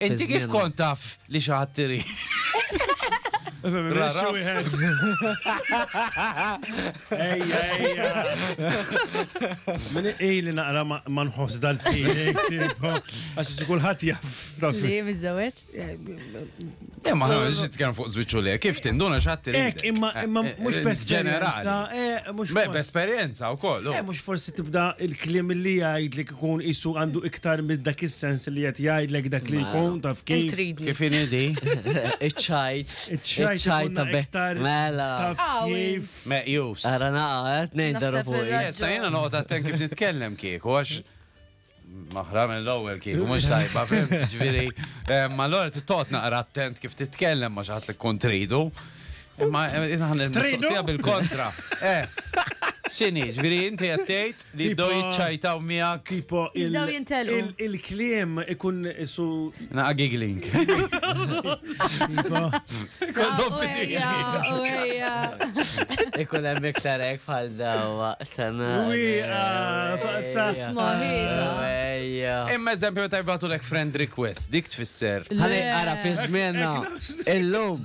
Inti kif kont taf li xi ħadd irid? Rara wieħed. Ejja, ejja. Min ili naqra ma nħoss dal-feeling, għax kulħadd jaf. Li miżewet? Eh, ma nħoss jitkellem fuq żwiċċu le, kif tinduna x'ħadd irid. Ek, imma eh, imma eh, mhux b'esperjenza. Mhux b'esperjenza wkoll. Mhux forsi tibda il-kliem li jgħidlik Ikun qisu għandu iktar minn dak is-sens li qed jgħidlek dak li jkun taf kif. Intridni. Kif inhi di? Iċ-ċajt. Iċ-ċajt Iċ-ċajt ikun ta' be- iktar Mela. taf Għawi. kif. Meqjus. Ara naqa, qed ngħid darba Naħseb fuq. ir-raġel- Issa jiena noqgħod attent kif nitkellem kieku għax maħra mill-ewwel kieku mhux tajba fim ġifieri. eh, Ma l-għor tittot naqra attent kif titkellem ma xaħat li tkun tridu. Imma eh, naħna Tridu? mistoqsija bil-kontra. Eh. X'inhi, ġifieri inti qed tgħid Li jibdew Tipo- jiċċajtaw miegħek. Tipo il- Jibdew jintelqu. il- il-kliem ikun isu Naqa giggling. Kozom Uwejja, uwejja. Ikun hemm iktar hekk bħal dawa. Wieqa, faqsa. Smaħita. Ejja. Imma eżempju meta jibgħatu lek friend request, dik tfisser. Ħalli ara fi żmienna. Illum.